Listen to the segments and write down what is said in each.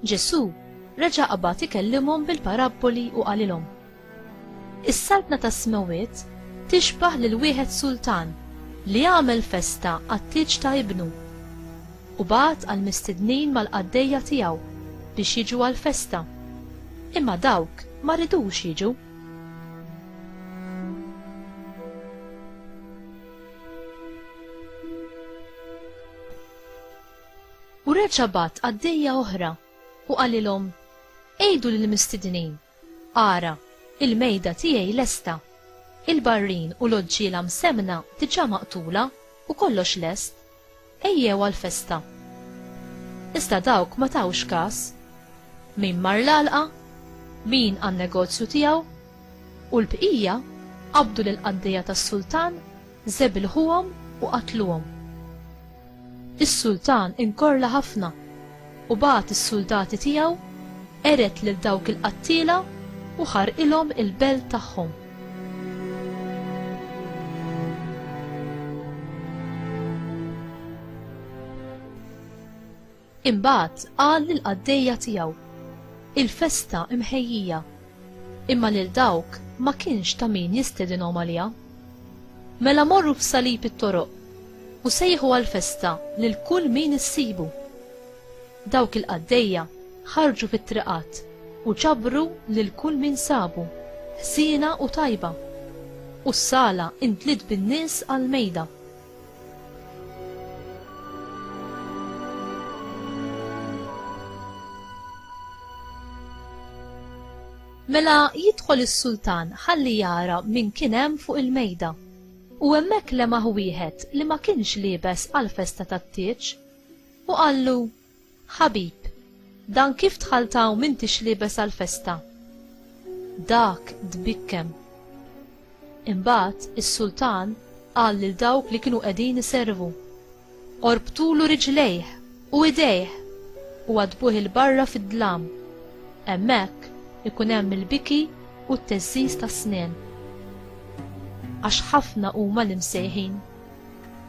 Ġesu reġa' qabad ikellimhom bil-parabboli u qalilhom. Is-saltna tas-smewwiet tixbah lil wieħed sultan li għamel festa għat-tieġ ta' ibnu. U bagħat għall-mistednin mal-qaddejja tiegħu biex jiġu għall-festa, imma dawk ma ridux jiġu. U reġa' bagħat qaddejja oħra u qalilhom, Għidu lill-mistednin, ara, il-mejda tiegħi lesta, il-barrin u l-oġġiela msemmna diġà maqtula u kollox lest. Ejjew għal-festa. Iżda dawk ma tawx każ. Min mar l-għalqa, min għan-negozju tiegħu, u l-bqija qabdu lill-qaddejja tas-sultan, żebilħuhom u qatluhom. Is-sultan inkorla ħafna. u bagħat is-suldati tiegħu, qered lil dawk il-qattiela u ħarqilhom il-belt tagħhom. Imbagħad qal lill-qaddejja tiegħu, Il-festa imħejjija Imma lil dawk ma kienx ta' min jistedinhom għaliha. Mela morru f'salib it-toroq u sejħu għal festa lil kull min issibu. Dawk il-qaddejja ħarġu fit-triqat u ġabru lil kull min sabu, ħsiena u tajba. U s-sala intliet bin-nies għall-mejda. Mela jidħol is-sultan ħalli jara min kien hemm fuq il-mejda. U hemmhekk lemaħ wieħed li ma kienx liebes għall-festa tat-tieġ, u qallu, Ħabib, dan kif dħalt hawn m'intix liebes għall-festa? Dak tbikkem. Imbagħad is-sultan qal lil dawk li kienu qegħdin iservu, Orbtulu riġlejh u idejh u għaddbuh 'il barra fid-dlam. Hemmhekk ikun hemm il-biki u t-teżżiż tas-snien. Għax ħafna huma l-imsejħin.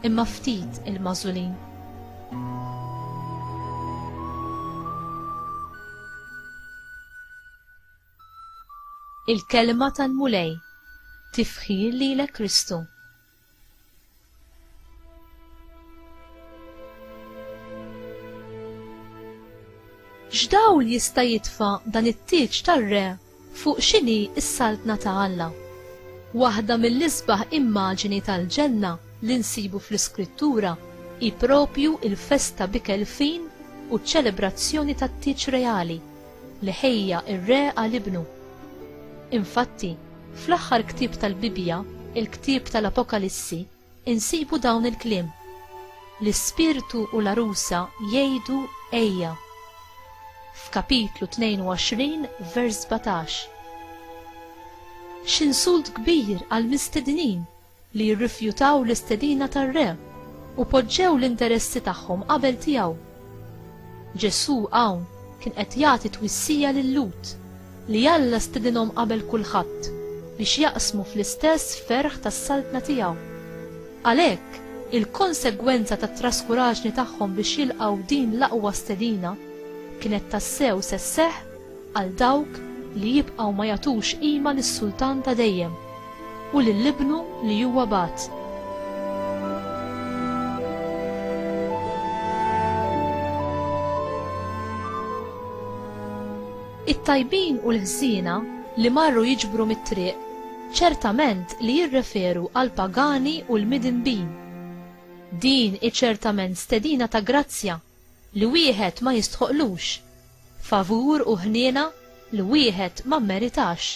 imma ftit il-mażulin. Il-kelma tal-Mulej tifħir lilek Kristu. X'dawl jista' jitfa' dan it-tieġ tar-re Fuq x'inhi s-Saltna ta' Alla? Waħda mill-isbaħ immaġini tal-ġenna li nsibu fl-Iskrittura hi proprju l-festa b'ikel fin u ċ-ċelebrazzjoni tat-tieġ reali li ħejja r-Re għal Ibnu. Infatti, fl-aħħar ktieb tal-Bibbja, il-ktieb tal-Apokalissi, insibu dawn il-kliem, L-Ispirtu u l-għarusa jgħidu, Ejja! f'Kapitlu 22, vers 17. X'insult kbir għall-mistednin li jirrifjutaw l-istedina tar-Re u poġġew l-interessi tagħhom qabel tiegħu! Ġesù hawn kien qed jagħti twissija lil-Lhud li Alla stedinhom qabel kulħadd biex jaqsmu fl-istess ferħ tas-Saltna tiegħu. Għalhekk, il-konsegwenza tat-traskuraġni tagħhom biex jilqgħu din l-aqwa stedina kienet tassew se sseħħ għal dawk li jibqgħu ma jagħtux qima lis-Sultan ta' dejjem u lil Ibnu li huwa bagħat. It-tajbin u l-ħżiena li marru jiġbru mit-triq ċertament li jirreferu għall-pagani u l-midinbin. Din hi ċertament stedina ta' grazzja li wieħed ma jistħoqqlux, favur u ħniena li wieħed ma mmeritax.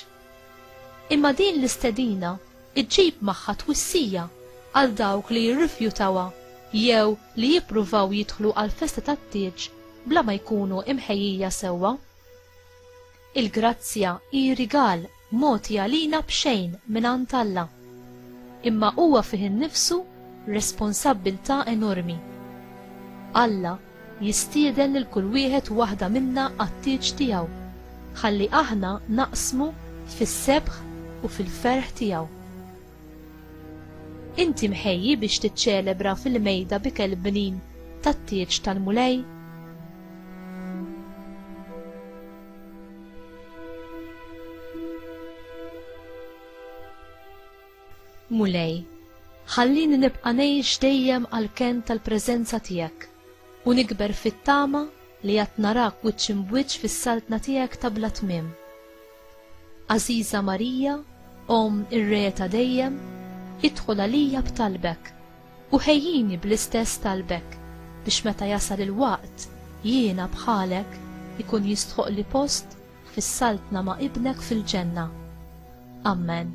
Imma din l-istedina ġġib magħha twissija għal dawk li jirrifjutawha jew li jippruvaw jidħlu għall-festa tat-tieġ bla ma jkunu mħejjija sewwa. Il-grazzja hi rigal mogħti għalina b'xejn mingħand Alla. Imma huwa fih innifsu responsabbiltà enormi. Alla jistieden lil kull wieħed u waħda minna għat-tieġ tiegħu, ħalli aħna naqsmu fis-sebħ u fil-ferħ tiegħu. Inti mħejji biex tiċċelebra fil-mejda b'ikel bnin tat-tieġ tal-Mulej? Mulej, ħallini nibqa' ngħix dejjem għall-kenn tal-preżenza tiegħek u nikber fit-tama li għad narak wiċċ imb'wiċċ fis-saltna tiegħek ta' bla tmiem. Għażiża Marija, Omm ir-Re ta' dejjem, idħol għalija b'talbek, u ħejjini bl-istess talbek, biex meta jasal il-waqt jiena bħalek ikun jistħoqqli post fis-saltna ma' Ibnek fil-Ġenna. Ammen.